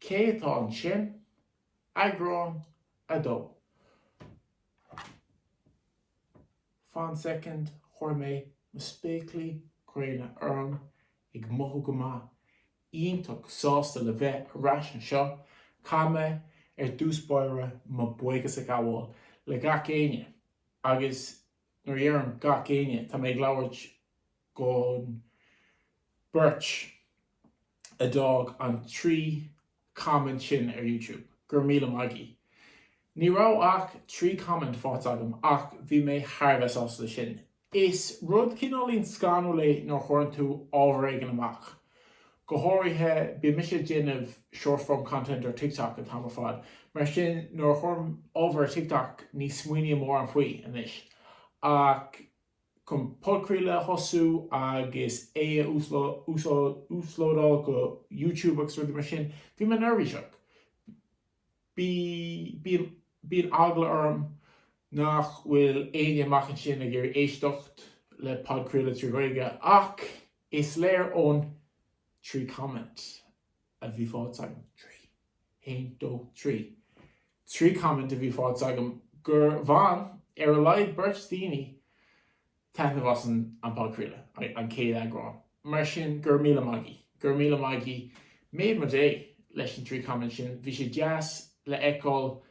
Cé atá ansin? Eagrán a dó. Fan second, chuir mé mo spéaclaí gréine orm, ag mothú go maith, iontach sásta le bheith ar ais anseo. Caithfidh mé, ar dtús báire, mo buíochas a ghabháil le gach éinne agus Nuair a dheirim 'gach éinne' tá mé ag labhairt dhon beirt a d'fhág an trí comment sin ar YouTube. Go raibh míle maigí. Ní raibh ach trí comment faighte agam ach bhí mé thar a bheith sásta le sin. Is rud cineáilín scanrúil é nuair a chuireann tú ábhar éigin amach, Go háirithe, bím-se ag déanamh short form content ar TikTok an t-am ar fad, mar sin nuair a chuirim ábhar ar TikTok ní smaoiním mórán faoi anois ach chun podchraoladh a thosú agus é a uaslódáil go YouTube agus rudaí mar sin, bhí mé neirbhíseach. bíonn, bíonn eagla orm nach bhfuil éinne amach ansin ag iarraidh éisteacht le podchraoladh trí Ghaeilge ach is léir ón trí comment a bhí faighte agam, trí, haon, dó, trí, trí comment a bhí faighte agam gur bhain ar a laghad beirt daoine taitneamh as an podchraoladh, an chéad eagrán, mar sin go raibh míle maigí! Go raibh míle maigí! Made mo day leis an trí comment sin. Bhí sé deas le feiceáil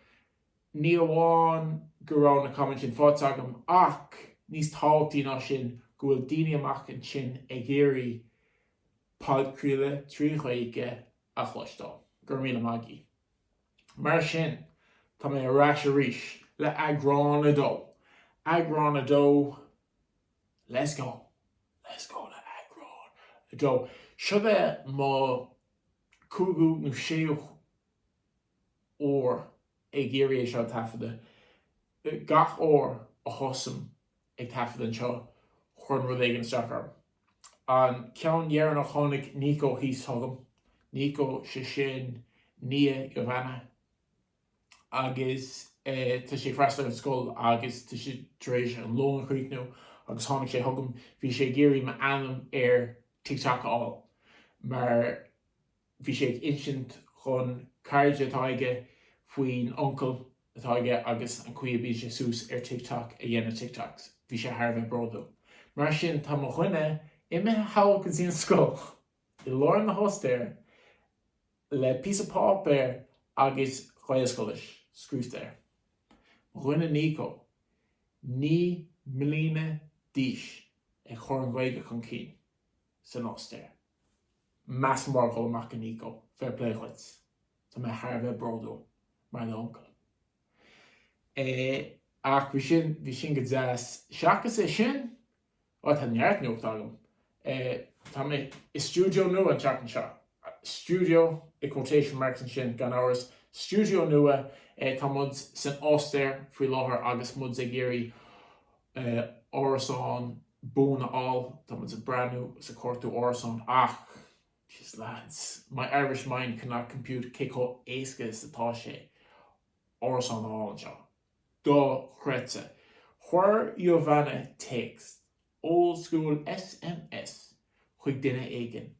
ní amháin go raibh na comment sin faighte agam ach níos tábhachtaí ná sin go bhfuil daoine amach ansin ag iarraidh podchraoladh trí Ghaeilge a chloisteáil. Go raibh míle maigí! Mar sin, tá mé ar ais arís le eagrán a dó. Eagrán a dó, let's go! Let's go le eagrán a dó. Seo b'fhéidir mo cúigiú nó séú huair ag iarraidh é seo a taifeadadh. Gach uair a thosaim ag taifeadadh anseo, cuireann rud éigin isteach orm. An ceann deireanach tháinig Nico thíos chugam, Nico sé sin nia Giovana agus tá sé ag freastal ar an scoil agus tá sé tar éis an lón a chríochnú agus tháinig sé chugam, bhí sé ag iarraidh m'ainm ar TikTok a fháil mar. Bhí sé ag insint dhon cairde atá aige faoin uncail atá aige agus an chaoi a mbíonn sé suas ar TikTok ag déanamh TikToks. Bhí sé thar a bheith bródúil. Mar sin tá mo dhuine imithe thall go dtí an scoil i lár na hOstaire le píosa páipéir agus Gaelscoilis scríofta air. Mo dhuine Nico, naoi mbliana d'aois, ag chur an Ghaeilge chun cinn san Ostair. Massive shout out go Nico. Fair play dhuit. Tá mé thar a bheith bródúil mar d'uncail. Eh ach bhí sin, bhí sin go deas. Seachas é sin, bhuel tá neart nuachta agam. Eh tá mé i stiúideo nua an tseachtain seo. Stiúideo i quotation marks ansin gan amhras. Stiúideo nua, eh tá muid san Ostair faoi láthair agus muid ag iarraidh eh, árasán buan a fháil, tá muid ag breathnú 's ag cuartú árasáin ach, jeez lads, my Irish mind cannot compute cé chomh éasca is atá sé árasán a fháil anseo. Do-chreidte. Chuir Giovanna téacs, old school sms, chuig duine éigin,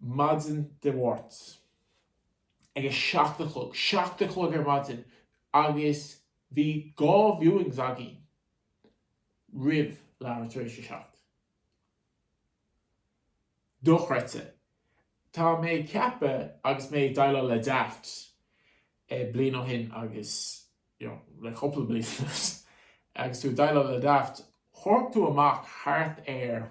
maidin Dé Máirt, ag a seacht a chlog, seacht a chlog ar maidin, agus Bhí dhá viewings againn roimh leathuair tar éis a seacht. Dochreidte. Tá mé ag ceapadh agus mé ag déileáil le Daft bliain ó shin agus you know le cúpla bliain anuas agus tú ag déileáil le Daft, chuirfeadh tú amach thart ar.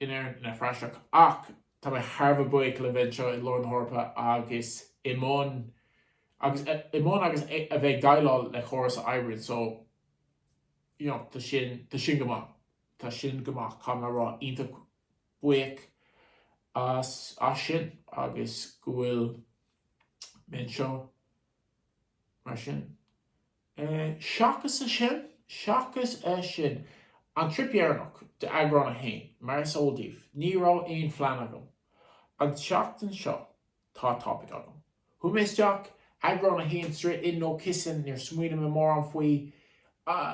in Éirinn ina phraiseach ach tá mé thar a bheith buíoch le bheith anseo i lár na hEorpa agus i mbun agus i mbun agus a bheith ag déileáil le córas a oibríonn so you know tá sin tá sin go maith tá sin go maith caithfidh mé a rá iontach buíoch as as sin agus go bhfuil mé anseo mar sin. É seachas é sin, seachas é sin. An trip dheireanach in d'eagrán a haon, mar is eol daoibh, ní raibh aon phlean agam. An tseachtain seo, tá topaic agam. Chuaigh mé isteach, eagrán a haon straight in no kissing, níor smaoinigh mé mórán faoi,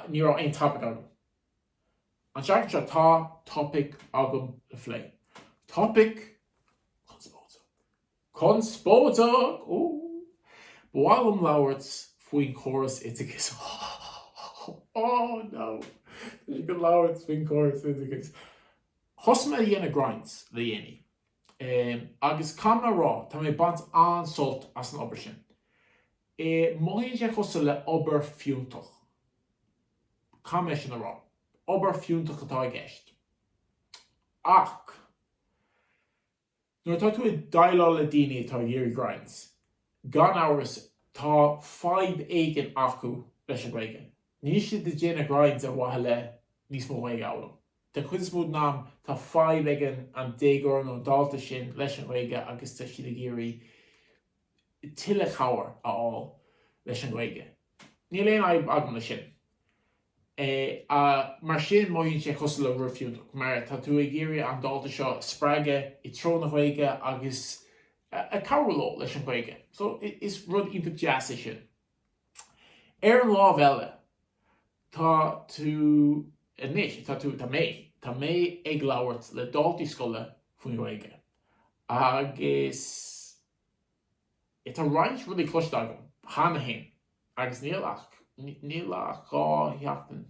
ní raibh aon topaic agam. An tseachtain seo, tá topaic agam le phlé. Topaic chonspóideach. Conspóideach! Ba mhaith liom labhairt faoin chóras oideachais. Oh no! Tá sé ag dul a labhairt faoin chóras oideachais. Thosaigh mé ag déanamh grinds le déanaí. Agus caithfidh mé a rá, tá mé ag baint an-sult as an obair sin. Mothaíonn sé cosúil le obair fiúntach. Caithfidh mé sin a rá. Obair fiúntach atá i gceist. Ach. Nuair atá tú ag déileáil le daoine atá ag iarraidh grinds, gan amhras tá fadhb éigin acu leis an Ghaeilge. Níl siad ag déanamh grinds ar mhaithe le níos mó Ghaeilge a fhoghlaim. Den chuid is mó den am tá fadhb ag an déagóir nó an dalta sin leis an Ghaeilge agus tá siad ag iarraidh tuilleadh cabhair a fháil leis an Ghaeilge. Níl aon fhadhb agam le sin. Mar sin mothaíonn sé cosúil le rud fiúntach mar tá tú ag iarraidh an dalta seo a spreagadh i dtreo na Ghaeilge agus ag cabhrú leo leis an Ghaeilge. So is rud iontach deas é sin. Ar an lámh eile tá tú anois, tá tú, tá mé, tá mé ag labhairt le daltaí scoile faoin Ghaeilge agus. Tá roinnt rudaí cloiste agam cheana féin agus níl, níl ach dhá sheachtain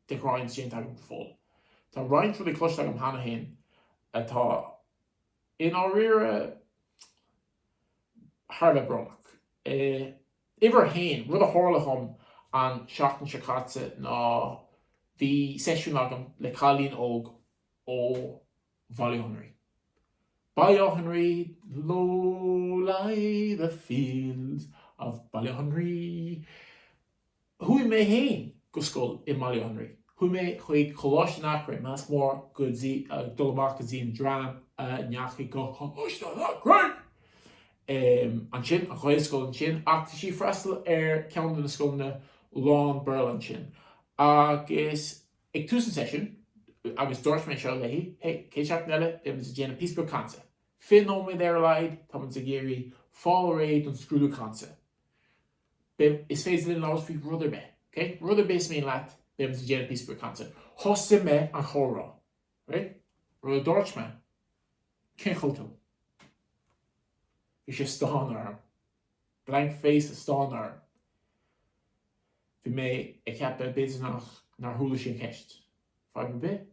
de ghrinds déanta agam go fóill. Tá roinnt rudaí cloiste agam cheana féin atá i ndáiríre thar a bheith brónach. Uimhir a haon, rud a tharla dhom an seachtain seo caite ná bhí seisiún agam le cailín óg ó Bhaile Átha an Rí. Baile Átha an Rí Low lie the fields of Baile Átha an Rí Chuaigh mé féin go scoil i mBaile Átha an Rí. Chuaigh mé chuig Coláiste an Eachréidh, meas mór go dtí ag dul amach go dtí an dream a ndeachaigh go Coláiste an Eachréidh! em, ansin, an Ghaelscoil ansin ach tá sí ag freastal ar ceann de na scoileanna lán-Bhéarla ansin agus. Agus ag tús an seisiúin, agus dúirt mé seo léi, Hey, gach seachtain eile, beimid ag déanamh píosa beag cainte. Fiche nóiméad ar a laghad, tá muid ag iarraidh fáil réidh don scrúdú cainte. Beidh, is féidir linn labhairt faoi rud ar bith, ok? Rud ar bith is mian leat, beimid ag déanamh píosa beag cainte. Thosaigh mé an chomhrá, right? Nuair a dúirt mé, Cén chaoi a bhfuil tú? Bhí sí ag stánadh orm. Blank face ag stánadh orm. Bhí mé ag ceapadh b'fhéidir nach, nár chuala sí an cheist. Fadhb ar bith?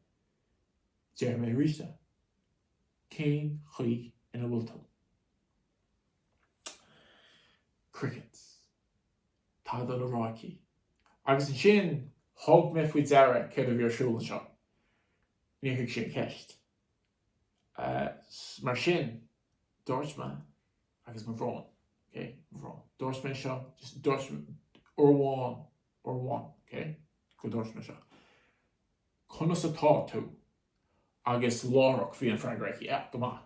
Déarfaidh mé arís é. Cén chaoi ina bhfuil tú? Crickets. Tada le rá aici. Agus ansin thug mé faoi deara céard a bhí ar siúl anseo. Níor thuig sí an cheist. Mar sin, dúirt mé, agus mo bhrón, ok, mo bhrón, dúirt mé seo, just dúirt mé, uair amháin, uair amháin, ok, gur dhúirt mé seo, conas atá tú? Agus láithreach bhí an freagra aici, ah, go maith.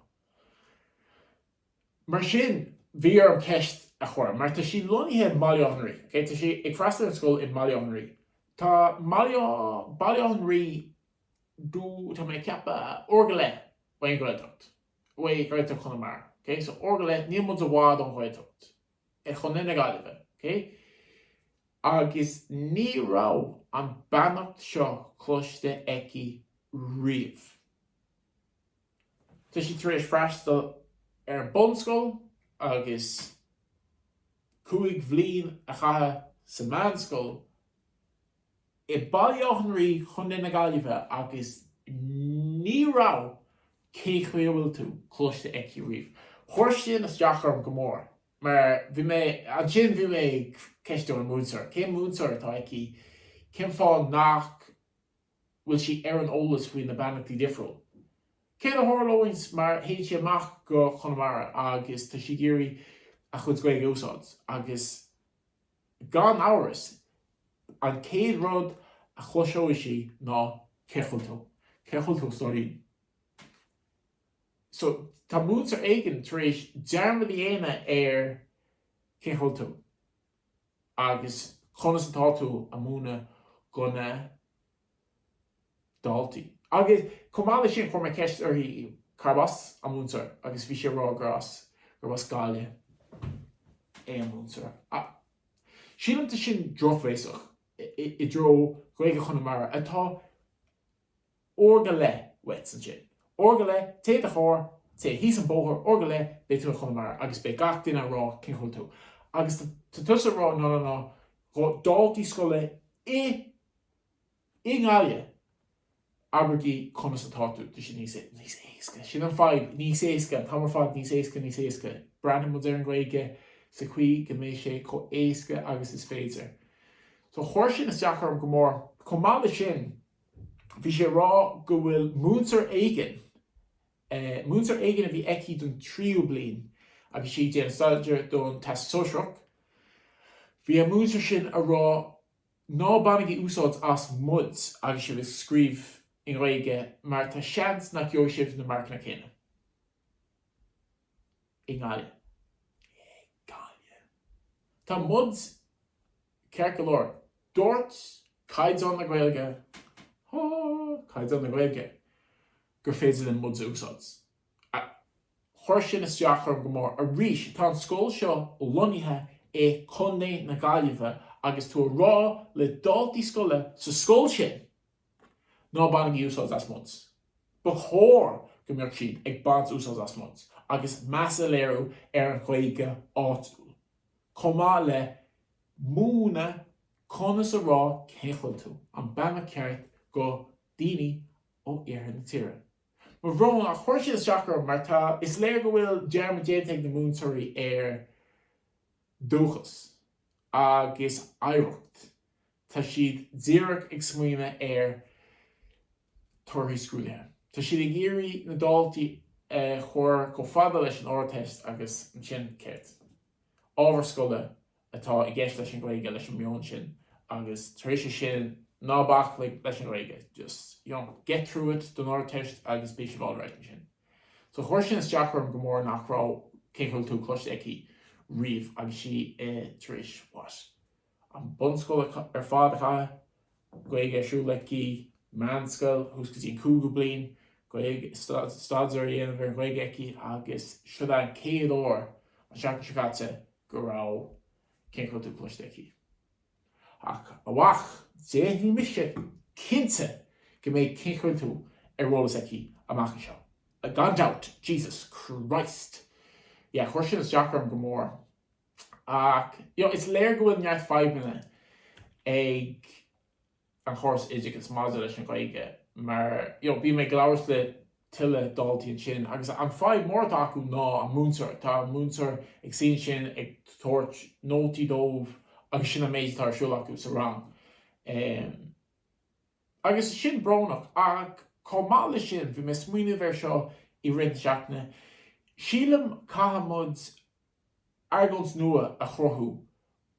Mar sin, bhí orm ceist a chur, mar tá sí lonnaithe i mBaile Átha an Rí, ok, tá sí ag freastal ar an scoil i mBaile Átha an Rí. Tá mBaile, Baile Átha an Rí do, tá mé ag ceapadh, uair go leith ón Ghaeltacht, ó Ghaeltacht Chonamara, ok? So uair go leith, níl muid i bhfad ón Ghaeltacht, i chontae na Gaillimhe, ok? Agus ní raibh an beannacht seo cloiste aici riamh. Tá sí tar éis freastal ar an bunscoil agus cúig bhliain a chaitheamh sa meánscoil, i Baile Átha an Rí, Co. na Gaillimhe agus ní raibh 'Cé chaoi a bhfuil tú? cloiste aici riamh. Chuir sin isteach orm go mór mar bhí mé, ansin bhí mé ag ceistiú an múinteoir, cén múinteoir atá aici, cén fáth nach bhfuil sí ar an eolas faoi na beannachtaí difriúla? Céard a tharlóidh má théann sí amach go Conamara agus tá sí ag iarraidh a cuid Gaeilge a úsáid agus. Gan amhras, an céad rud a chloiseoidh sí ná Cé chaoi bhfuil tú? Cé chaoi bhfuil tú stóirín? So, tá múinteoir éigin tar éis dearmad a dhéanamh ar Cé chaoi bhfuil tú? agus Conas atá tú? a mhúineadh do na daltaí. Agus chomh maith leis sin, chuir mé ceist uirthi cárb as an múinteoir agus bhí sí ag rá gur as, gurb as Gaillimh é an múinteoir. Ach sílim tá sin drochbhéasach i dtreo Ghaeilge Chonamara atá uair go leith uait ansin. Uair go leith, téigh i do charr, téigh thíos an bóthar, uair go leith beidh tú i Chonamara agus beidh gach duine ag rá cén chaoi bhfuil tú. Agus tá tusa ag rá ná ná ná, daltaí scoile i. i nGaillimh. Abraigí conas atá tú. Tá sé níos é, níos éasca. Sin an fadhb, níos éasca an t-am ar fad níos éasca, níos éasca. Breathnaíonn muid ar an Ghaeilge sa chaoi go mbeidh sé chomh éasca agus is féidir. So chuir sin isteach orm go mór. Chomh maith le sin, bhí sí a rá go bhfuil múinteoir éigin, múinteoir éigin a bhí aici don tríú bliain agus sí ag déanamh staidéar don Teastas Sóisearach, bhí an múinteoir sin a rá Ná bainigí úsáid as 'muid' agus sibh ag scríobh i nGaeilge mar tá seans nach gheobhaidh sibh na marcanna céanna i nGaillimh. Tá 'muid' ceart go leor. Dúirt Caighdeán na Gaeilge, ha ha, Caighdeán na Gaeilge, gur féidir linn 'muid' a úsáid. chuir sin isteach orm go mór. Arís, tá an scoil seo lonnaithe i gcontae na Gaillimhe agus tú a rá le daltaí scoile sa scoil sin ná bainigí úsáid as muid, ba chóir go mbeadh siad ag baint úsáid as muid agus meas a léiriú ar an Ghaeilge áitiúil chomh maith le múineadh conas a rá cén chaoi a bhfuil tú an beannacht ceart go daoine ó iarthar na tíre. Mo bhrón, ach chuir sin isteach orm mar tá, is léir go bhfuil dearmad déanta ag na múinteoirí ar dúchas agus oidhreacht. Tá siad díreach ag smaoineamh ar torthaí scrúdaithe. Tá siad ag iarraidh na daltaí a chur chomh fada leis an Ardteist agus ansin céard? Ábhar scoile atá i gceist leis an Ghaeilge leis an meon sin agus tar éis sin ná bac leis an Ghaeilge just you know get through it don Ardteist agus beidh sibh alright ansin so chuir sin isteach orm go mór nach raibh cén chaoi a bhfuil tú cloiste aici riamh agus sí i tar éis what an bunscoil ar fad a chaitheamh Gaeilge ar siúl aici, meánscoil, thuas go dtí an cúigiú bliain, Gaeilge, staidéar a dhéanamh ar Ghaeilge aici agus siod é an chéad uair an seachtain seo caite go raibh cén chaoi a bhfuil tú cloiste aici? Ach a mhac, déanfaidh mise cinnte go mbeidh cén chaoi a bhfuil tú ar eolas aici amach anseo. Gan dabht! Jesus Christ! Yeah, chuir sin isteach orm go mór. Ach is léir go bhfuil neart fadhbanna ag an chóras oideachais maidir leis an Ghaeilge mar bhí mé ag labhairt le tuilleadh daltaí ansin agus an fadhb mór atá acu ná an múinteoir. Tá an múinteoir ag suí ansin ag tabhairt nótaí dóibh agus sin an méid atá ar siúl acu sa rang agus sin brónach. Ach chomh maith leis sin, bhí mé ag smaoineamh air seo i rith na seachtaine, sílim caithfidh muid argóint nua a chruthú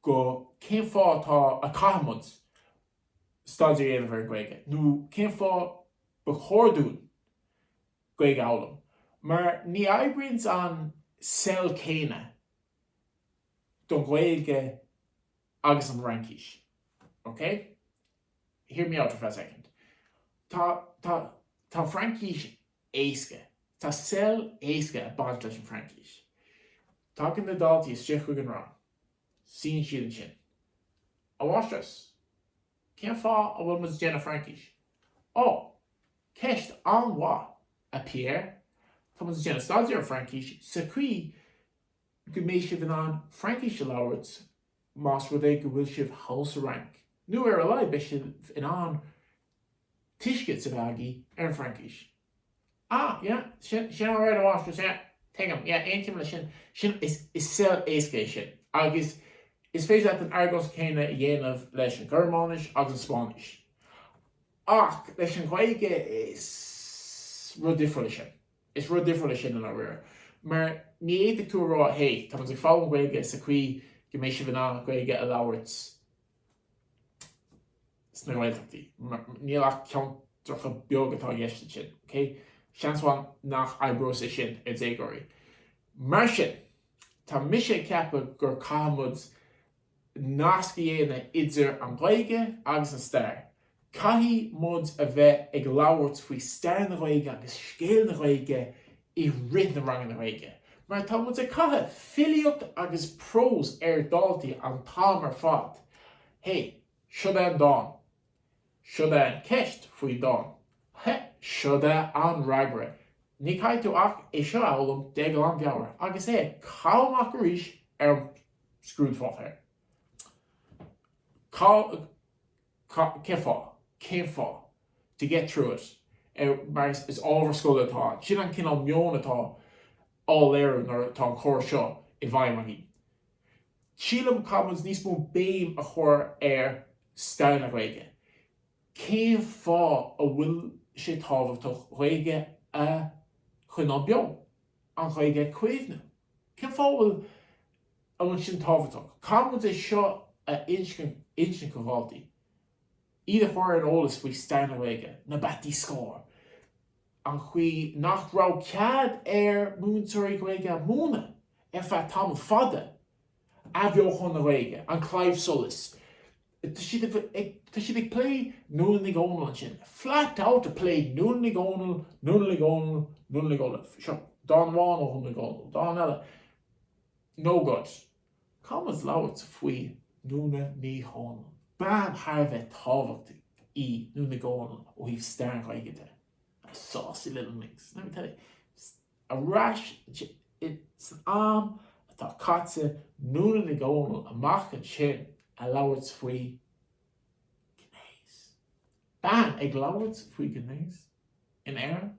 go cén fáth atá a caithfidh muid staidéar a dhéanamh ar an Ghaeilge nó cén fáth ba chóir dúinn Gaeilge a fhoghlaim mar ní oibríonn an sell céanna don Ghaeilge agus an Fhraincis. OK? Hear me out for a second. Tá, tá, tá Fraincis éasca. Tá sell éasca ag baint leis an Fraincis. Tagann na daltaí isteach chuig an rang. Suíonn siad ansin. A Mháistreás, cén fáth a bhfuil muid ag déanamh Fraincis? Ó, ceist an-mhaith, a Pierre. Tá muid ag déanamh staidéar ar an bhFraincis sa chaoi go mbeidh sibh in ann Fraincis a labhairt Más rud é go bhfuil sibh thall sa Fhrainc, nó ar a laghad beidh sibh in ann tuiscint a bheith agaí ar an bhFraincis. Ah, yeah, sin, sin alright a Mháistreás, yeah, tuigim, yeah, aontaím leis sin, sin, is, is sell éasca é sin. Agus is féidir leat an argóint chéanna a dhéanamh leis an Ghearmáinis agus an Spáinnis. Ach leis an Ghaeilge is rud difriúil é sin. Is rud difriúil é sin i ndáiríre. Mar ní fhéadfaidh tú a rá, hé, tá muid ag foghlaim Gaeilge sa chaoi go mbeidh sibh in ann Gaeilge a labhairt sna Gaeltachtaí. Níl ach ceantracha beag atá i gceist ansin, OK? Seans mhaith nach oibreoidh sé sin ar déagóirí. Mar sin, tá mise ag ceapadh gur caithfidh muid nasc a dhéanamh idir an Ghaeilge agus an stair. Caithfidh muid a bheith ag labhairt faoi stair na Gaeilge agus scéal na Gaeilge i rith na ranganna Gaeilge mar tá muid ag caitheamh filíocht agus prós ar dáltaí an t-am ar fad. Hey, siod é an dán. Siod é an ceist faoi dán. Heh! Siod é an fhreagra. Ní caithfidh tú ach é seo a fhoghlaim de ghlanmheabhair agus é caitheamh amach arís ar an scrúdpháipéar. Cá, cá, cén fáth? Cén fáth? To get through it. Ar, mar is, is ábhar scoile atá ann. Sin an cineál meoin atá á léiriú nuair atá an córas seo i bhfeidhm agaí. Sílim caithfidh muid níos mó béim a chur ar stair na Gaeilge. Cén fáth a bhfuil sé tábhachtach Gaeilge a choinneáil beo? An Ghaeilge a caomhnú? Cén fáth a bhfuil a bhfuil sin tábhachtach? Caithfidh muid é seo a insint do dhaltaí. Iad a chur ar an eolas faoi stair na Gaeilge, na bataí scóir, an chaoi nach raibh cead ar mhúinteoirí Gaeilge a múineadh ar feadh tamall fada, athbheochan na Gaeilge, An Claidheamh Soluis, tá siad ag plé Nuala Ní Dhomhnaill ansin, flat out ag plé Nuala Ní Dhomhnaill, Nuala Ní Dhomhnaill, Nuala Ní Dhomhnaill, seo dán amháin ó Nuala Ní Dhomhnaill, dán eile no good. Caithfidh muid labhairt faoi Nuala Ní Dhomhnaill. Bean thar a bheith tábhachtach í Nuala Ní Dhomhnaill ó thaobh stair na Gaeilge de. A saucy little minx, let me tell you. Ar ais san am atá caite, Nuala Ní Dhomhnaill amach ansin ag labhairt faoi ghnéas. Bean ag labhairt faoi ghnéas in Éirinn?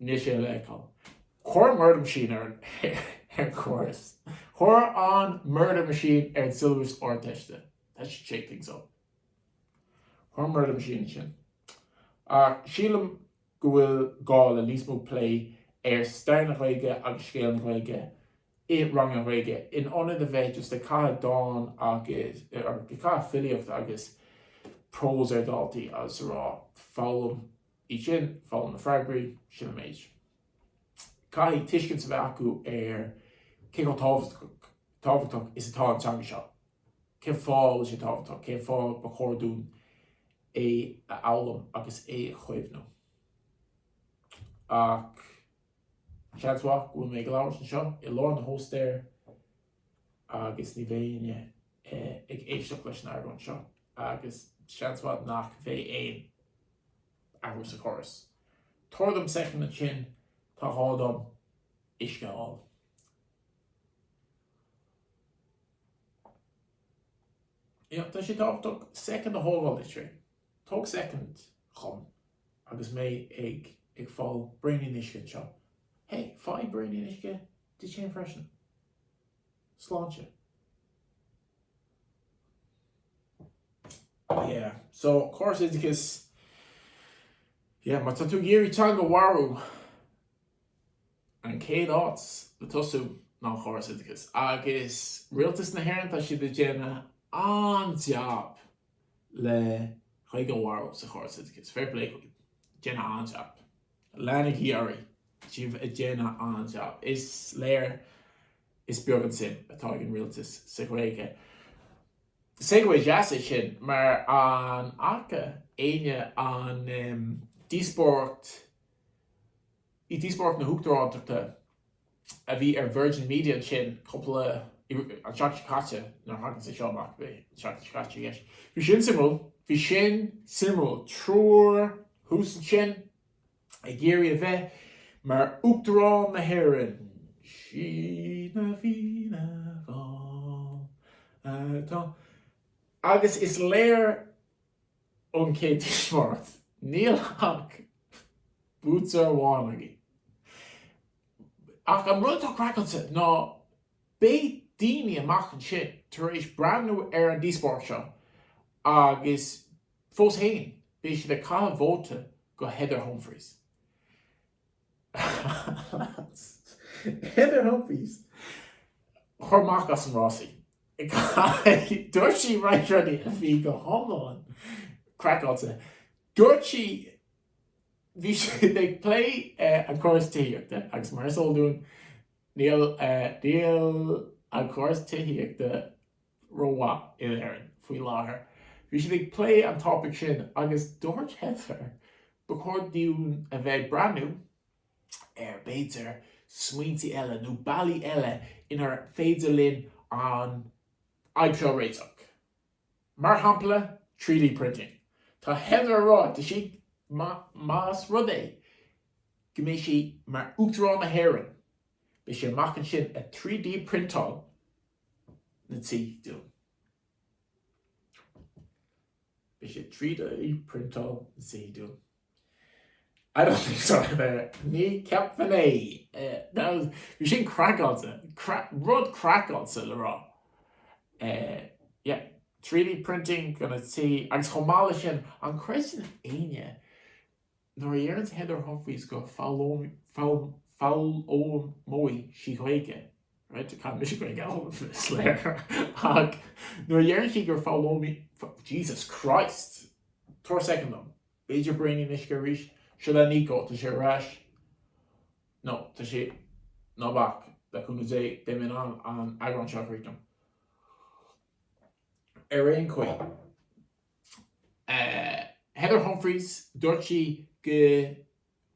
Níl sé le feiceáil. Cuir Murder Machine ar an chóras. Cuir an Murder Machine ar an siollabas Ardteiste. That should shake things up. Cuir an Murder Machine ansin. Ach sílim go bhfuil gá le níos mó plé ar stair na Gaeilge agus scéal na Gaeilge i ranganna Gaeilge in ionad a bheith just ag caitheamh dán agus, or ag caitheamh filíocht agus prós ar dhaltaí agus a rá, foghlaim. iad sin foghlaim na freagraí, sin an méid. Caithfidh tuiscint a bheith acu ar cé chomh tábhachtach is atá an teanga seo, cén fáth a bhfuil sé tábhachtach, cén fáth ba chóir dúinn é a fhoghlaim agus é a chaomhnú. Ach seans mhaith go bhfuil mé ag labhairt anseo i lár na hAstráile agus ní bheidh éinne ag éisteacht leis an argóint seo agus seans mhaith nach mbeidh aon athrú sa chóras. Tabhair dom second ansin, tá gá agam uisce a fháil. Yeah, tá sé tábhachtach second a thógáil le trí. Tóg second liom agus mé ag, ag fáil braoinín uisce anseo. Hey, fáigh braoinín uisce duit féin freisin. Sláinte. Yeah. So, córas oideachais. Yeah, má tá tú ag iarraidh teanga a mharú, an chéad áit le tosú ná an córas oideachais. Agus Rialtas na hÉireann, tá siad ag déanamh an-jab leis an Ghaeilge a mharú sa chóras oideachais. Fair play. Déanamh an-jab. Leanaigí oraibh, sibh ag déanamh an-jab. Is léir is beag an suim atá ag an rialtas sa Ghaeilge. Segway deas é sin mar an fhaca éinne an díospóireacht díospóireacht na huachtaránachta a bhí ar Virgin Media ansin cúpla, an tseachtain seo caite, nuair a thagann sé seo amach, beidh an tseachtain seo caite i gceist. Bhí sin suimiúil. Bhí sin suimiúil. Triúr thuas ansin ag iarraidh a bheith mar Uachtarán na hÉireann. Sinne Fianna Fáil atá. Agus is léir ón chéad díospóireacht, níl ach buaiteoir amháin againn. Ach an rud atá craiceáilte ná beidh daoine amuigh ansin tar éis breathnú ar an díospóireacht seo agus fós fhéin beidh siad ag caitheamh vóta do Heather Humphreys. Heather Humphreys, cuir amach as an rás í. Dúirt sí roinnt rudaí a bhí go hiomlán craiceáilte. Dúirt sí bhí siad ag plé an córas tithíochta agus mar is eol dúinn níl an córas tithíochta rómhaith in Éirinn faoi láthair. Bhí siad ag plé an topaic sin agus dúirt Heather ba chóir dúinn a bheith ag breathnú ar b'fhéidir smaointe eile nó bealaí eile inar féidir linn an fhadhb seo a réiteach. Mar shampla 3D printing. Tá Heather ag rá tá sí más rud é go mbeidh sí mar Uachtarán na hÉireann, Beidh sí amach ansin ag 3D priontáil na tí dúinn. Beidh sí ag 3D priontáil na tí dúinn. I don't think so Ní cheapfainn é bhí sin craiceáilte rud craiceáilte le rá Yeah 3D printing do na tí agus chomh maith leis sin an chreideann éinne Nuair a dheireann Heather Humphreys go foghlaimeoidh sí Ghaeilge, right, tá mise go geal is léir, ach nuair a dheireann sí gur foghlaimeoidh, Jesus Christ! Tabhair soicind dom. B'fhéidir braoinín d'uisce arís? Seo é Niko, tá sé ar ais, no tá sé, ná bac, le cúnamh Dé, beidh mé in ann an eagrán seo a chríochnú. Ar aon chaoi. Heather Humphreys, dúirt sí go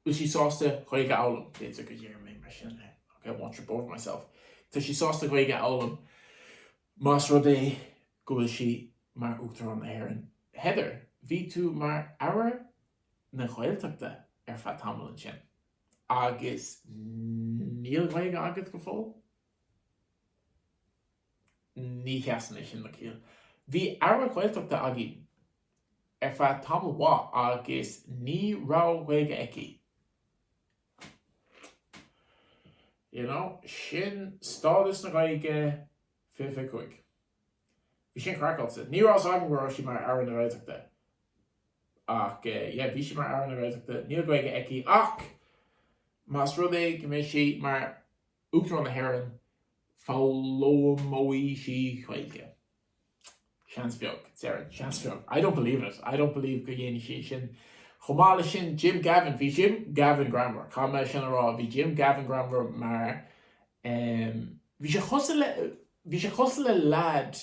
bhfuil sí sásta Gaeilge a fhoghlaim. B'fhéidir go ndéarfaidh mé mar sin é, ok, I won't trip over myself. Tá sí sásta Gaeilge a fhoghlaim más rud é go bhfuil sí mar Uachtarán na hÉireann. Heather, bhí tú mar Aire na Gaeltachta ar feadh tamaillín sin agus níl Gaeilge agat go fóill? Ní sheasann é sin le ciall. Bhí Aire Ghaeltachta againn ar feadh tamall mhaith agus ní raibh Gaeilge aici. You know, sin stádas na Gaeilge fiche fiche cúig. Bhí sin craiceáilte. Ní raibh a fhios agam go raibh sí mar Aire na Gaeltachta. Ach eh, yeah, bhí sí mar Aire na Gaeltachta. Níl Gaeilge aici ach más rud é go mbeidh sí mar Uachtarán na hÉireann, foghlaimeoidh sí Ghaeilge? Seans bheag, déarfainn. Seans bheag. I don't believe it. I don't believe go dhéanfaidh sí sin. Chomh maith leis sin, Jim Gavin, bhí Jim Gavin greannmhar. Caithfidh mé sin a rá. Bhí Jim Gavin greannmhar mar um bhí sé chosúil le, bhí sé chosúil le leaid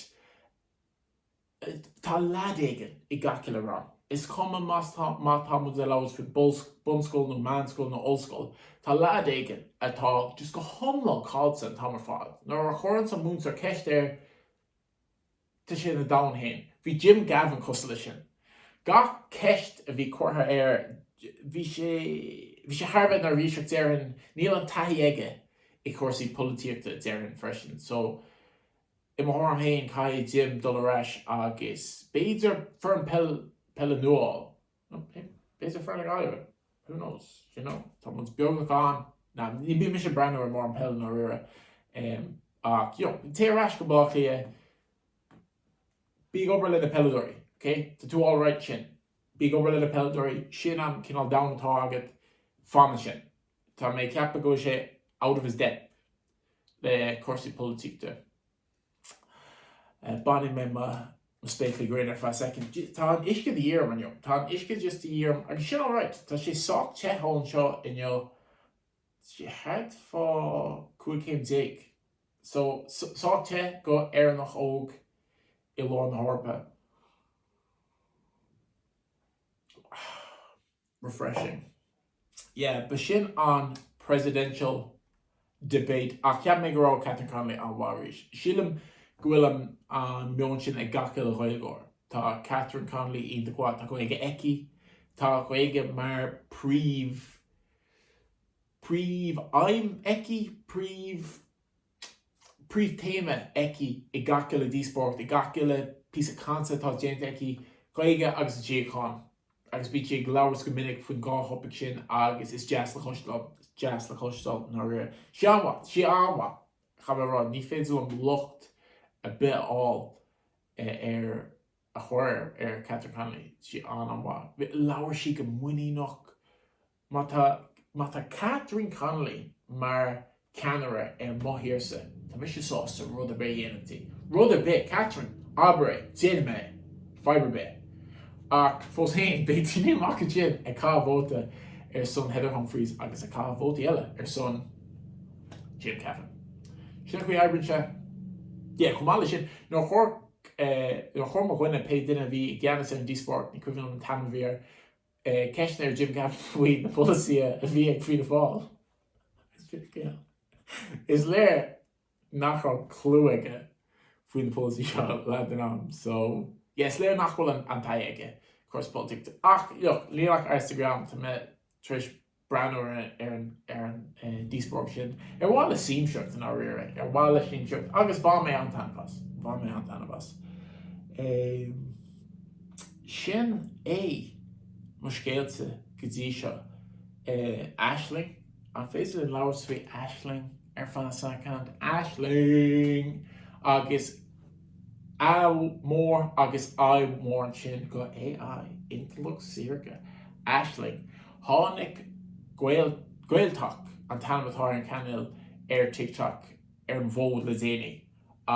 Tá leaid éigin i ngach uile rang. Is cuma má tá muid ag labhairt faoi bunscoil nó meánscoil nó ollscoil, tá leaid éigin atá just go hiomlán caillte an t-am ar fad. Nuair a chuireann an múinteoir ceist air, tá sé ina domhan féin. Bhí Jim Gavin cosúil leis sin. Gach ceist a bhí curtha air, bhí sé, bhí sé thar a bheith neirbhíseach. Déarfainn, níl an taithí aige i g gcúrsaí polaitíochta, déarfainn freisin. So. I mo thuairim féin, caithfidh Jim dul ar ais agus b'fhéidir foireann peil, peile nua a fháil. Nó b'fhéidir foireann na Gaillimhe? Who knows? D'you know? Tá muid beagnach gann. Nah, ní bím mise ag breathnú ar mórán peile i ndáiríre. Ach, you know, téigh ar ais go Baile Átha Cliath, bí ag obair le na peileadóirí, ok? Tá tú alright ansin. Bí ag obair le na peileadóirí, sin an cineál domhan atá agat, fan ansin. Tá mé ag ceapadh go bhfuil sé out of his depth le cúrsaí polaitíochta. Bainfidh mé mo spéaclaí gréine ar feadh soicind. Tá an uisce de dhíth orm inniu. Tá an uisce just de dhíth orm agus sin alright. Tá sé sách te thall anseo inniu, tá sé thart faoi 15 céim so sách te d'Éireannach óg i lár na hEorpa. Refreshing. Yeah, b'shin an presidential debate ach cheap mé go raibh Catherine Connolly an-mhaith arís. Sílim go bhfuil an an meon sin ag gach uile Ghaeilgeoir. Tá Catherine Connolly iontach mhaith, tá Gaeilge aici, tá Gaeilge mar príomh príomh aidhm aici, príomh. príomhthéama aici i gach uile díospóireacht, i gach uile phíosa cainte atá déanta aici, Gaeilge agus an tsíocháin. Agus bíonn sí ag labhairt go minic faoin dhá thopaic sin agus is deas le cloisteáil, is deas le cloisteáil nuair a, sí an-mhaith, sí an-mhaith, chaithfeá a rá, ní féidir liom locht ar bith a fháil ar. a chuir ar Catherine Connolly, sí an-mhaith. Labhair sí go muiníneach. Má tá, má tá Catherine Connolly mar cheannaire ar mo thírse, tá mise sásta rud ar bith a dhéanamh di. Rud ar bith! Catherine, abair é, déanfaidh mé é, fadhb ar bith. Ach fós féin, beidh daoine amuigh ansin ag caitheamh vóta ar son Heather Humphreys agus ag caitheamh vótaí eile ar son Jim Gavin. Sin an chaoi a oibríonn sé. Yeah, chomh maith leis sin, nuair a chuir. chuir mo dhuine, pé duine a bhí i gceannas ar an díospóireacht, ní cuimhin liom an t-ainm a bhí air, ceisteanna ar Jim Gavin faoi na polasaithe a bhí ag Fianna Fáil. Is léir nach raibh clú aige faoi na polasaithe seo leath den am so yeah, is léir nach bhfuil an taithí aige i gcúrsaí polaitíochta. Ach look, léigh mé ar Instagram, tá mé tar éis. breathnú ar an díospóireacht sin. Ar mhaithe le siamsaíocht, i ndáiríre. Ar mhaith le Siamsaíocht? Agus bhain mé an-taitneamh as. Bhain mé an-taitneamh as. Sin é mo scéalsa go dtí seo. Aisling? An féidir linn labhairt faoi Aisling ar feadh second? Aisling! Agus. Ádh mór agus ádh mór ansin do AI, intleacht saorga, Aisling, tháinig GaelTok an t-ainm atá ar an cainéal ar TikTok ar an bhfód le déanaí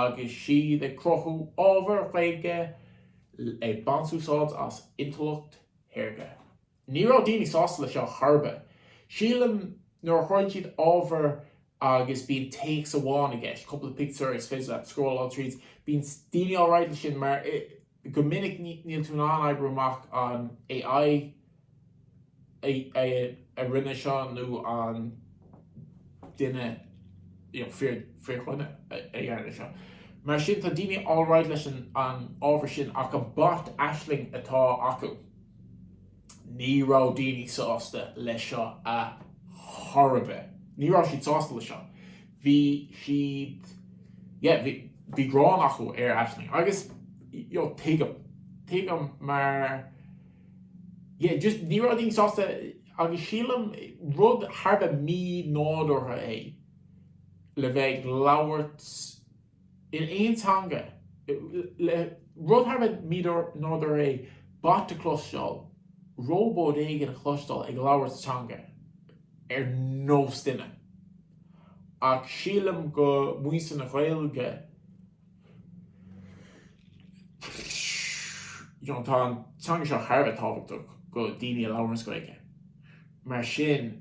agus iad ag cruthú ábhar Ghaeilge ag baint úsáid as intleacht shaorga. Ní raibh daoine sásta le seo chor ar bith. Sílim nuair a chuireann siad ábhar agus bíonn téacs amháin i gceist, cúpla pictiúr is féidir leat scrólláil tríd, bíonn daoine alright le sin mar go minic níl tú in ann oibriú amach an AI a rinne seo nó an duine you know fíor fíor dhuine a ndearna seo. Mar sin tá daoine alright leis an ábhar sin ach an bot Aisling atá acu. Ní raibh daoine sásta leis seo a chor ar bith. Ní raibh siad sásta leis seo. Bhí siad, yeah, bhí, bhí gráin acu ar Aisling agus, you know, tuigim, tuigim mar, yeah, just ní raibh daoine sásta agus sílim rud thar a bheith mí-nádúrtha é le bheith ag labhairt, in aon teanga, rud thar a bheith mí-nádúrtha é bot a chloisteáil róbat éigin a chloisteáil ag labhairt sa teanga ar nós duine. Ach sílim do mhuintir na Gaeilge, you know, tá an teanga seo thar a bheith tábhachtach do daoine a labhranns Gaeilge, mar sin,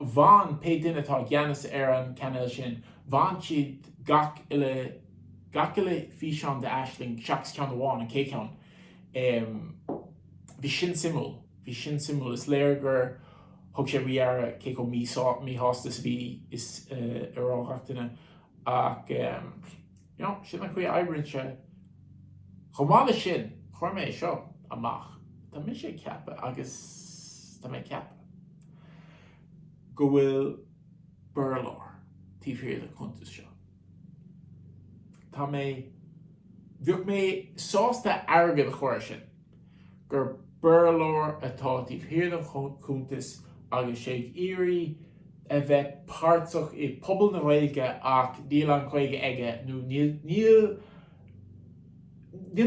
bhain pé duine atá i gceannas ar an cainéal sin, bhain siad gach uile, gach uile físeán de Aisling seachas ceann amháin, an chéad cheann. Em, bhí sin suimiúil, bhí sin suimiúil, is léir gur thug sé faoi deara cé chomh míshásta, míshásta is a bhí, is a raibh gach duine ach em. Nó, sin an chaoi a oibríonn sé. Chomh maith leis sin, cuirfidh mé é seo amach, tá mise ag ceapadh, agus tá mé ag ceapadh, go bhfuil Béarlóir taobh thiar den chuntas seo. Tá mé, bheadh mé sásta airgead a chur air sin. gur Béarlóir atá taobh thiar den chuntas agus sé ag iarraidh a bheith páirteach i pobal na Gaeilge ach níl an Ghaeilge aige nó níl níl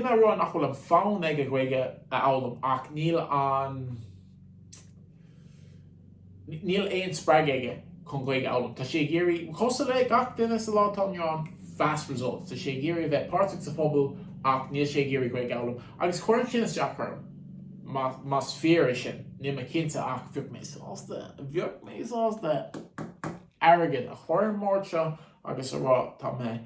mé a rá nach bhfuil an fonn aige Gaeilge a fhoghlaim ach níl an Níl aon spreagadh aige chun Gaeilge a fhoghlaim. Tá sé ag iarraidh, cosúil le gach duine sa lá atá inniu ann, fast results. Tá sé ag iarraidh a bheith páirteach sa phobal ach níl sé ag iarraidh Gaeilge a fhoghlaim. Agus cuireann sin isteach orm, más fíor é sin. Níl mé cinnte ach bheadh mé sásta, bheadh mé sásta airgead a chur ar an mbord seo agus a rá tá mé,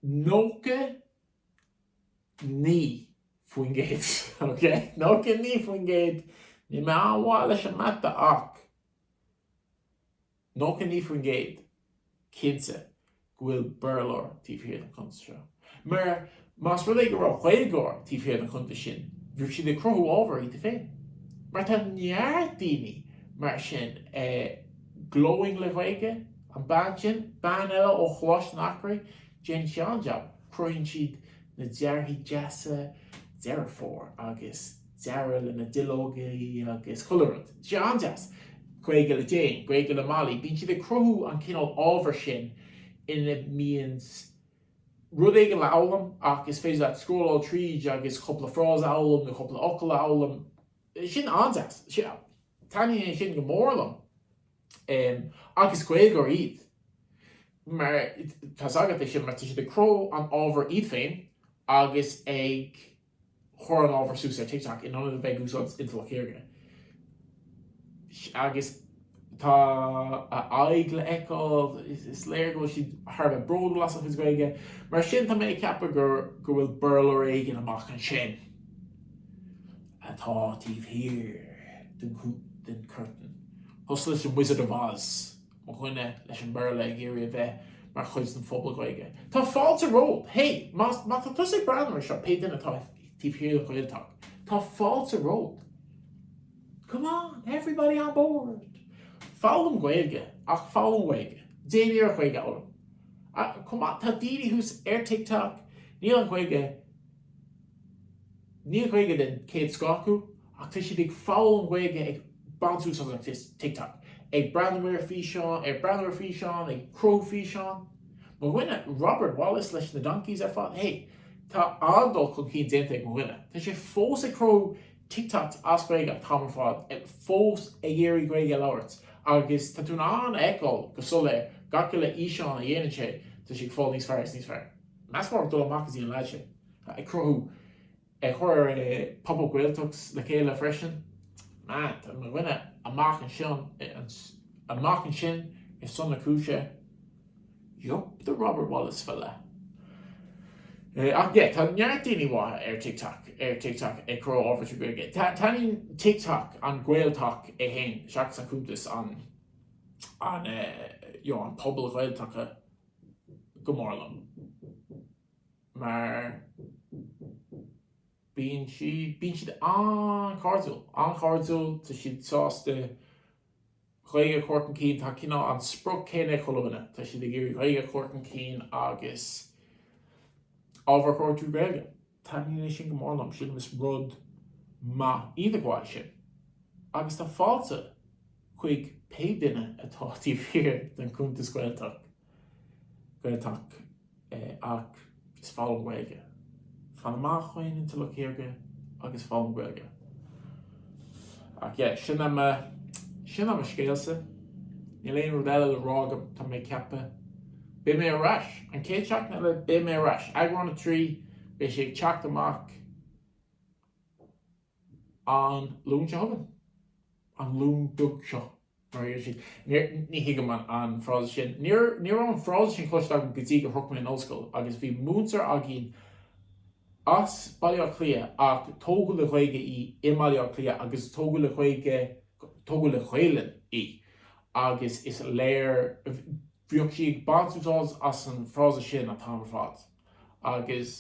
99% ok 99% níl mé an-mhaith leis an mata ach 99% cinnte go bhfuil Béarlóir taobh thiar den chuntas seo. Mar más rud é go raibh Gaeilgeoir taobh thiar den chuntas sin, bheadh siad ag cruthú ábhar iad féin. Mar tá neart daoine mar sin ag. Glowing le Gaeilge? An bean sin? Bean eile ó Choláiste an Eachréidh? Déanann sí an-jab. Cruthaíonn siad na dearthaí deasa Deireadh Fómhair agus dearadh le na duilleoga agus chuile rud. Tá sé an-deas! Gaeilge le Jane, Gaeilge le Molly, bíonn siad ag cruthú an cineál ábhair sin ina mbíonn rud éigin le fhoghlaim ach is féidir leat scrólláil tríd agus cúpla frása a fhoghlaim nó cúpla fhocal a fhoghlaim. Sin an-deas. Taitníonn sin go mór liom. Agus Gaeilgeoir iad. Mar, tá's agat é sin mar tá siad ag cruthú an ábhair iad féin agus ag chur an ábhair suas ar TikTok in ionad a bheith ag úsáid intleacht shaorga. Agus. Tá a aghaidh le fheiceáil. Is léir go bhfuil siad thar a bheith bródúil as a chuid Gaeilge. Mar sin tá mé ag ceapadh go go bhfuil Béarlóir éigin amach ansin atá taobh thiar den curtain. Cosúil leis an Wizard of Oz, mo dhuine leis an Béarla ag iarraidh a bheith mar chuid den phobal Gaeilge. Tá fáilte romhat! Hé, má má tá tusa ag breathnú ar seo, pé duine atá taobh thiar den GaelTok, tá fáilte romhat! Come on, everybody on board! Foghlaim Gaeilge, ach foghlaim Gaeilge. Déan iarracht Gaeilge a fhoghlaim. Ach chomh maith, tá daoine thuas ar TikTok, níl an Ghaeilge, níl Gaeilge den chéad scoth acu, ach tá siad ag foghlaim Gaeilge ag baint úsáid as TikTok, ag breathnú ar físeáin, ag cruthú físeáin. Mo dhuine, Robert Wallace leis na Donkeys ar fad, hey, tá an-dul chun cinn déanta ag mo dhuine. Tá sé fós ag cruthú TikToks as Gaeilge tá an t-am ar fad fós ag iarraidh Gaeilge a labhairt agus tá tú in ann a fheiceáil go soiléir gach uile fhíseán a dhéanann sé tá sé ag fáil níos fearr is níos fearr meas mór ag dul amach go dtí an leaid sin ag cruthú ag cur pop up Gaeltacht le chéile freisin man tá mo dhuine amach ansin ar son na cúise. Yup, the Robert Wallace fella. Ach yeah, tá neart daoine maithe ar TikTok ag cruthú ábhar trí Ghaeilge. Taitníonn TikTok an GaelTok é féin seachas an cuntas an pobal GaelTok go mór liom. Mar bíonn siad an-chairdiúil, an-chairdiúil, tá siad sásta, Gaeilge a chur chun cinn. Tá cineál an sprioc céanna ag chuile dhuine, tá siad ag iarraidh Gaeilge a chur chun cinn agus ábhar a chruthú trí Ghaeilge. Taitníonn é sin go mór liom, sílim is rud maith i ndáil leis sin. Agus tá fáilte chuig pé duine atá taobh thiar den chuntas GaelTok. GaelTok teacht agus foghlaim Gaeilge. Fan amach ón intleacht shaorga agus foghlaim Gaeilge. Ach yeah, sin é mo scéalsa. Níl aon rud eile le rá agam, tá mé ag ceapadh. Beidh mé ar ais, an chéad seachtain eile beidh mé ar ais. Eagrán a trí, beidh sé ag teacht amach. An Luan seo chugainn? An Luan beag seo? Mar a deir siad. Níor, ní thuigim an, an frása sin. Níor, ní raibh an frása sin cloiste agam go dtí gur shroich mé an ollscoil agus bhí múinteoir againn as Baile Átha Cliath ach tógadh le Gaeilge í i mBaile Átha Cliath agus tógadh le Gaolainn í agus is léir, bhíodh sí ag baint úsáid as an frása sin an t-am ar fad agus.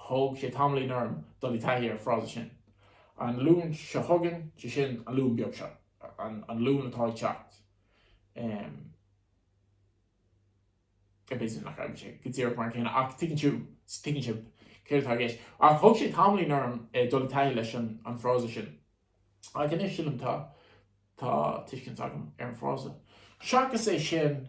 Thóg sé tamaillín orm dul i dtaithí ar an frása sin. An Luan seo chugainn, sé sin, an Luan beag seo, an Luan atá ag teacht, em. eh b'fhéidir nach raibh sé go díreach mar an gcéanna ach tuigeann tú, tuigeann sibh céard atá i gceist. Ach thóg sé tamaillín orm eh dul i dtaithí leis an frása sin. Ach anois sílim tá, tá tuiscint agam ar an frása. Seachas é sin,